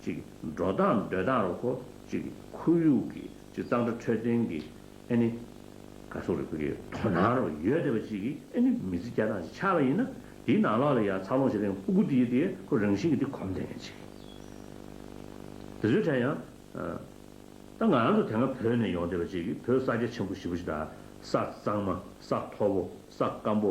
གཅིག་འགྲོ་སྟངས་སྡོད་སྟངས་རོགས་གོ་གཅིག་ཁོར་ཡུག་གི་གཅིག་གཙང་སྦྲ་འཕྲོད་བསྟེན་གྱི་ཨེ་ནི། ག་སོགས་རིགས་པ་གི་དོ་སྣང་རོགས་ཡོད་བསྡད་པ་གཅིག་གི་ཨེ་ནི་མི་ཚེ་བསྐྱལ་སྟངས་ཞིག་ཆགས་པ་ཡིན་ན་དེའི་ནང་ལོགས་ལ་ཡང་འཚར་ལོངས་བྱེད་མཁན་སྤུ་གུ་དེའི་དེའི་ཁོ་རང་བཞིན་གྱི་དེ་གོམས་བསྡད་མཁན་གཅིག་དེ་ཚོའི་གྲས་ཡང་ད་ང་རང་ཚོ་དེ་སྔ་བོད་ནས་ཡོང་བསྡད་པ་གཅིག་གི་བོད་ས་རྒྱ་ཆེན་པོ་བཞི་པོ་ཞིག་དང་ས་གཙང་མ་ས་མཐོ་པོ་ས་སྐམ་པོ་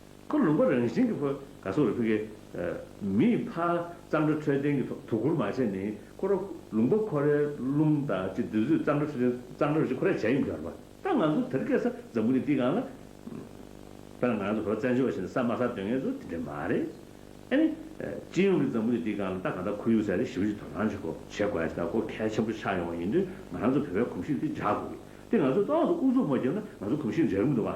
ཁོ་ལུང་པ་རང་བཞིན་གྱི་ཕོ་ག་སོགས་ལ་ཕུལ། མིའི་ཕ་གཙང་སྦྲ་འཕྲོད་བསྟེན་གྱི་དོ་ཁུར་མ་བྱས་ནས་ཁོ་ར་ལུང་པ་ཁོ་རའི་རླུང་དང་གཅིག་དུས་ཚོད་གཙང་སྦྲ་འཕྲོད་བསྟེན་གཙང་སྦྲ་རུ་ཞིག་ཁོ་ར་བྱས་ཡོང་གི་ཡོད་རེད་པ་ད་ང་ཚོ་དེར་སྐད་ས་འཛམ་བུ་ནས་ཏིག་གང་ལ་ད་ང་ཚོ་ཕོ་བཙན་བྱོལ་བ་ཞིག་ནས་ས་དམའ་ས་དོན་ངེས་ཚོ་དེ་འདྲ་མ་རེད་ཨ་ནི། སྤྱི་ཡོངས་ཀྱི་འཛམ་བུ་ནས་ཏིག་གང་ལ་ད་གང་ལྟར་ཁོར་ཡུག་གསར་རེ་ཞིབ་ཀྱིས་དོ་སྣང་བྱེད་དགོས་བྱེད་དགོས་ཀྱི་ད་གོ་གལ་ཆེན་པོ་ཆགས་ཡོང་བ་ཡིན་དུས་ང་ཚོ་བོད་པའི་གོམས་གཤིས་དེ་འཇགས་དགོས་ཀྱི་དེ་ང་ཚོས་ཏོག་ཙམ་ཨུ་ཚུགས་མ་བརྒྱབ་ན་ང་ཚོ་གོམས་གཤིས་འཇགས་གི་མི་འདུག་བ།